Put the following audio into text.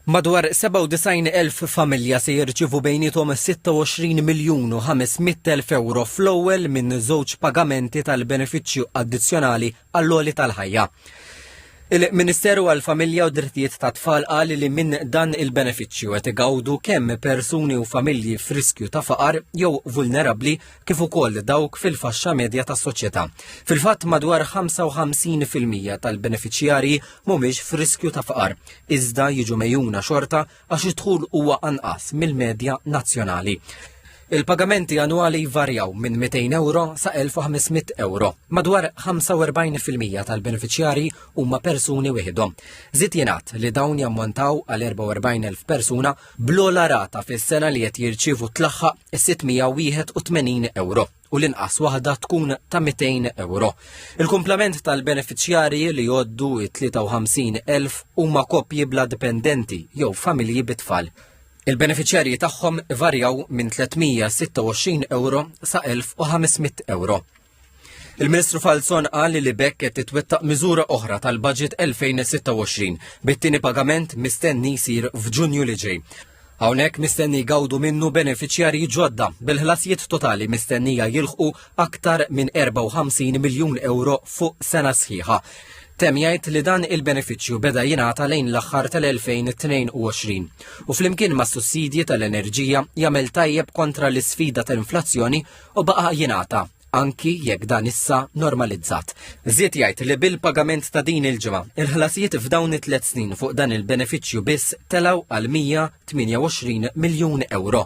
Madwar 97,000 familja se jirċievu bejniethom 26 miljun u 500 elf ewro fl-ewwel minn żewġ pagamenti tal-benefiċċju addizzjonali għall-għoli tal-ħajja. Il-Ministeru għall-Familja u Drittijiet tat-Tfal qal li minn dan il-benefiċċju qed igawdu kemm persuni u familji f'riskju ta' faqar jew vulnerabbli kif ukoll dawk fil-faxxa medja tas-soċjetà. Fil-fatt madwar 55% tal-benefiċjarji mhumiex f'riskju ta' faqar, iżda jiġu mejjuna xorta għax id-dħul huwa anqas mill-medja nazzjonali. Il-pagamenti annwali jvarjaw minn 200 euro sa 1500 euro. Madwar 45% tal-beneficjari huma persuni wieħedhom. Zid jingħad li dawn jammontaw għal 44,000 persuna bl-ogħla rata fis-sena li qed jirċievu tlaħħaq is-681 ewro u l-inqas waħda tkun ta' 200 ewro. Il-kumplament tal-beneficjarji li joddu 53,000 huma koppji bla dipendenti jew familji bitfall. Il-beneficjarji tagħhom varjaw minn 326 euro sa 1500 euro. Il-Ministru Falzon qal li b'hekk qed titwettaq miżura oħra tal-Baġit 2026 bit-tieni pagament mistenni jsir f'Ġunju li ġej. Hawnhekk mistenni jgawdu minnu benefiċjarji ġodda bil-ħlasijiet totali mistennija jilħqu aktar minn 54 miljun euro fuq sena sħiħa. Tem jgħid li dan il-benefiċċju beda jingħata lejn l-aħħar tal-2022 u flimkien ma' sussidji tal-enerġija jagħmel tajjeb kontra l-isfida tal-inflazzjoni u baqa' jingħata anki jekk dan issa normalizzat. Ziet jgħid li bil-pagament ta' din il-ġimgħa, il-ħlasijiet f'dawn it-tliet snin fuq dan il-benefiċċju biss telgħu għal 128 miljun euro.